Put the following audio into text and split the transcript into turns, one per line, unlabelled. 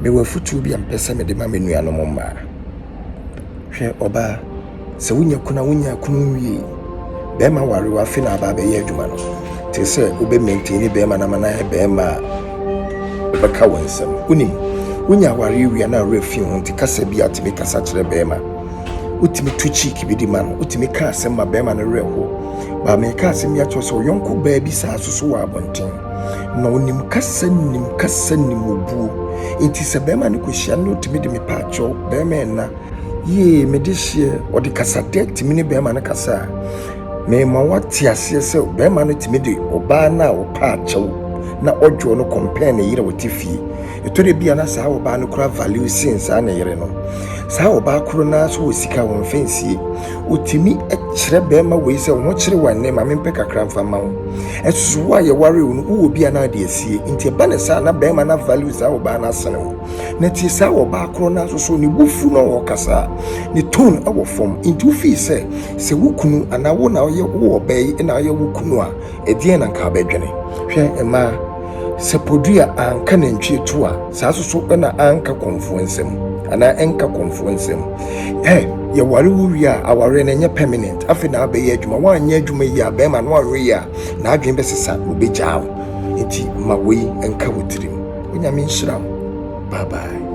Mewɔ afotuo bi a mepɛ sɛ mede ma me nuanom mmaa. Hwɛ ɔbaa, sɛ wonya kunu a wonya kunu nwie. Bɛrima ware wo afe na aba abɛyɛ adwuma no. Te sɛ wobɛ maintain ne bɛrima na ama no ayɛ bɛrima a ɔbɛka wo nsɛm. Wonim, wonya awareɛ wie a na awerɛ fi ho nti kasa bi a tumi kasa kyerɛ bɛrima. Wotumi to cheek bi de ma no, wotumi ka asɛm ma bɛrima no werɛ ho. Baa meka asɛm bi akyerɛ sɛ ɔyɔnko baa bi saa soso wɔ abɔnten. Na onim kasa nim kasa nim obuo nti sɛ bɛrima no kɔhyia no na ɔtumi de me paakyɛw bɛrima ɛna yee mede hyeɛ ɔde kasadɛ tumi ne bɛrima no kasa a mema wate aseɛ sɛ bɛrima no tumi de ɔbaa no a ɔpaakyɛw na ɔdwoɔ no kɔmpɛn ne yerɛ ɔte fie Ɛtɔ da bi a na saa ɔbaa no kura value sen saa ne yere no. Saa ɔbaa koro no ara nso wɔ sika a wɔmfa nsie. Ɔtumi kyerɛ barima wei sɛ, wo ho kyere wo ɛnnɛ, ma mempɛ kakra mfa mma wo. Ɛso so wo a yɛwaree wo no, wowɔ bi a na wode asie. Nti ɛba no saa a, na barima no avalue saa ɔbaa no asene wo. Na tie saa ɔbaa koro no ara nso so, ne bo fu na ɔkasa a, ne tone wɔ fam. Nti wofii sɛ, sɛ wo kunu anaa wo na woyɛ wo ɔbaa yi na woyɛ wo kunu a, Ɛdeɛn na nka abɛdwene? Hwɛ mmaa, sɛ podua anka nantwie to a, saa nso so na anka kɔmfoɔ nsam, anaa ɛnka kɔmfoɔ nsam. Ɛ, yɛware wo wie a, awareɛ no ɛnyɛ permanent, afei na abɛyɛ adwuma, woanyɛ adwuma yie a, bɛrima no woanwe yie a, n'adwene bɛsesa na ɔbɛgyaa wo. Nti ma wei nka wo tirim. Onyame nhyira wo. Bye bye.